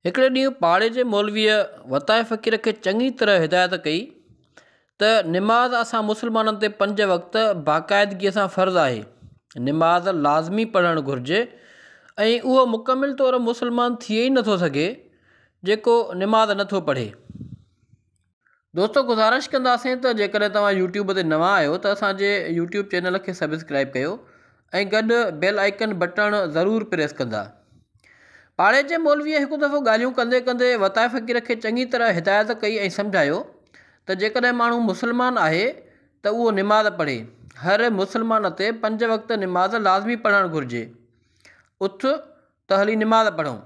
هڪڙي ڏينهن پاڙي جي مولويء وتايي فقير کي چڱي طرح هدايت ڪئي ته نماز اسان مسلمانن تي پنج وقت باقاعدگيء سان فرض آهي. نماز لازمي پڙهڻ گهرجي ۽ اهو مڪمل طور مسلمان ٿئي ئي نٿو سگهي، جيڪو نماز نٿو پڙهي. دوستو گذارش ڪنداسين ته جيڪڏهن توهان يوٽيوب تي نوان آهيو ته اسان جي يوٽيوب چينل کي سبسڪرائب ڪيو ۽ گڏ بيل آئيڪن بٽڻ ضرور پريس ڪندا. پاڙي جي مولويء هڪ دفعو ڳالهيون ڪندي ڪندي وتائي فقير کي چڱي طرح هدايت ڪئي ۽ سمجهايو ته جيڪڏهن ماڻهو مسلمان آهي ته اهو نماز پڙهي. هر مسلمان تي پنج وقت نماز لازمي پڙهڻ گهرجي. اٿ ته هلي نماز پڙهون،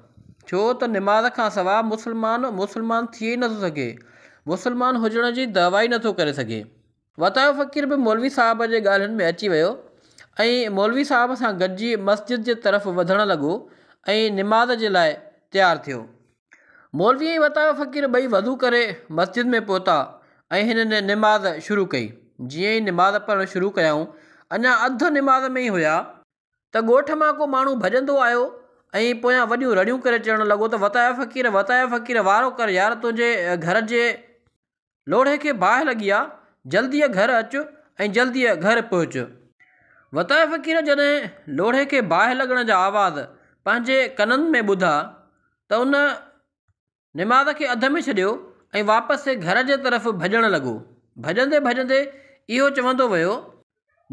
ڇو ته نماز کان سواء مسلمان مسلمان ٿئي ئي نٿو سگهي، مسلمان هجڻ جي دعويٰ ئي نٿو ڪري سگهي. وتايو فقير به مولوي صاحب جي ڳالهين ۾ اچي ويو ۽ مولوي صاحب سان گڏجي مسجد جي طرف وڌڻ لڳو ۽ نماز جي لاء تيار ٿيو. مولوي ۽ وتايو فقير ٻئي وضو ڪري مسجد ۾ پهتا ۽ هنن نماز شروع ڪئي. جيئن ئي نماز پڙهڻ شروع ڪيائون، اڃا اڌ نماز ۾ ئي هيا، ته ڳوٺ مان ڪو ماڻهو ڀڄندو آيو ۽ پويان وڏيون رڙيون ڪري چئڻ لڳو ته وتايو فقير وتايو فقير وارو ڪر يار تنهنجي گهر جي لوڙهي کي باهه لڳي آ جلديء گهر اچ ۽ جلديء گهر پهچ. وتايو فقير جڏهن لوڙهي کي باهه لڳڻ جا آواز پنهنجي ڪنن ۾ ٻڌا ته ان نماز کي اڌ ۾ ڇڏيو ۽ واپس گهر جي طرف ڀڄڻ لڳو. ڀڄندي ڀڄندي اهو چوندو ويو،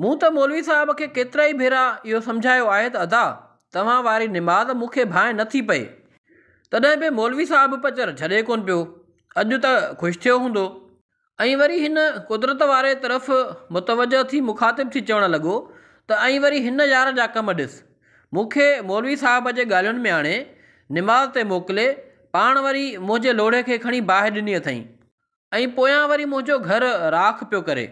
مون ته مولوي صاحب کي ڪيترائي ڀيرا اهو سمجهايو آهي ته ادا توهان واري نماز مون کي ڀانء نه ٿي پئي. تڏهن به مولوي صاحب پچر ڇڏي ڪونه پيو. اڄ ته خوش ٿيو هوندو. ائين وري هن قدرت واري طرف متوجه ٿي مخاطب ٿي چوڻ لڳو ته ائين وري هن يار جا ڪم ڏس. مون کي مولوي صاحب جي ڳالهين ۾ آڻي نماز تي موڪلي پاڻ وري منهنجي لوڙهي کي کڻي باهه ڏني اٿئين ۽ پويان وري منهنجو گهر راک پيو ڪري.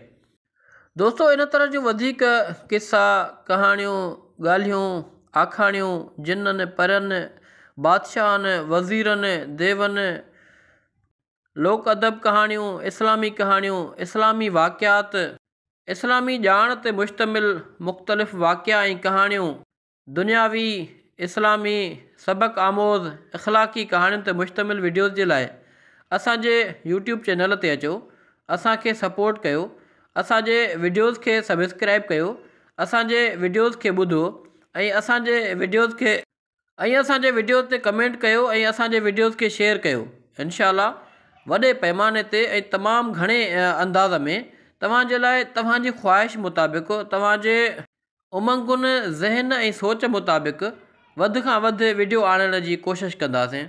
دوستو ان طرح جون وڌيڪ قصا، ڪهاڻيون، ڳالهيون، آکاڻيون، جنن، پرين، بادشاهن، وزيرن، ديون، لوڪ ادب ڪهاڻيون، اسلامي ڪهاڻيون، اسلامي واقعات، اسلامي ڄاڻ تي مشتمل مختلف واقعا ۽ ڪهاڻيون، دنياوي، اسلامي، سبق آموز، اخلاقي ڪهاڻين تي مشتمل وڊيوز جي لاء اسان جي يوٽيوب چينل تي اچو اسان کي سپورٽ ڪيو اسان جي وڊيوز کي سبسڪرائب ڪيو اسان جي وڊيوز کي ٻڌو ۽ اسان جي وڊيوز کي ۽ اسانجي وڊيو تي ڪمينٽ ڪيو ۽ اسانجي وڊيوز کي شيئر ڪيو انشاء الله وڏي پئماني تي ۽ تمام گهڻي انداز ۾ توهانجي لاء توهانجي خواهش مطابق توهانجي امنگن ذهن ۽ سوچ مطابق وڌ کان وڌ وڊيو آڻڻ جي ڪوشش ڪنداسين.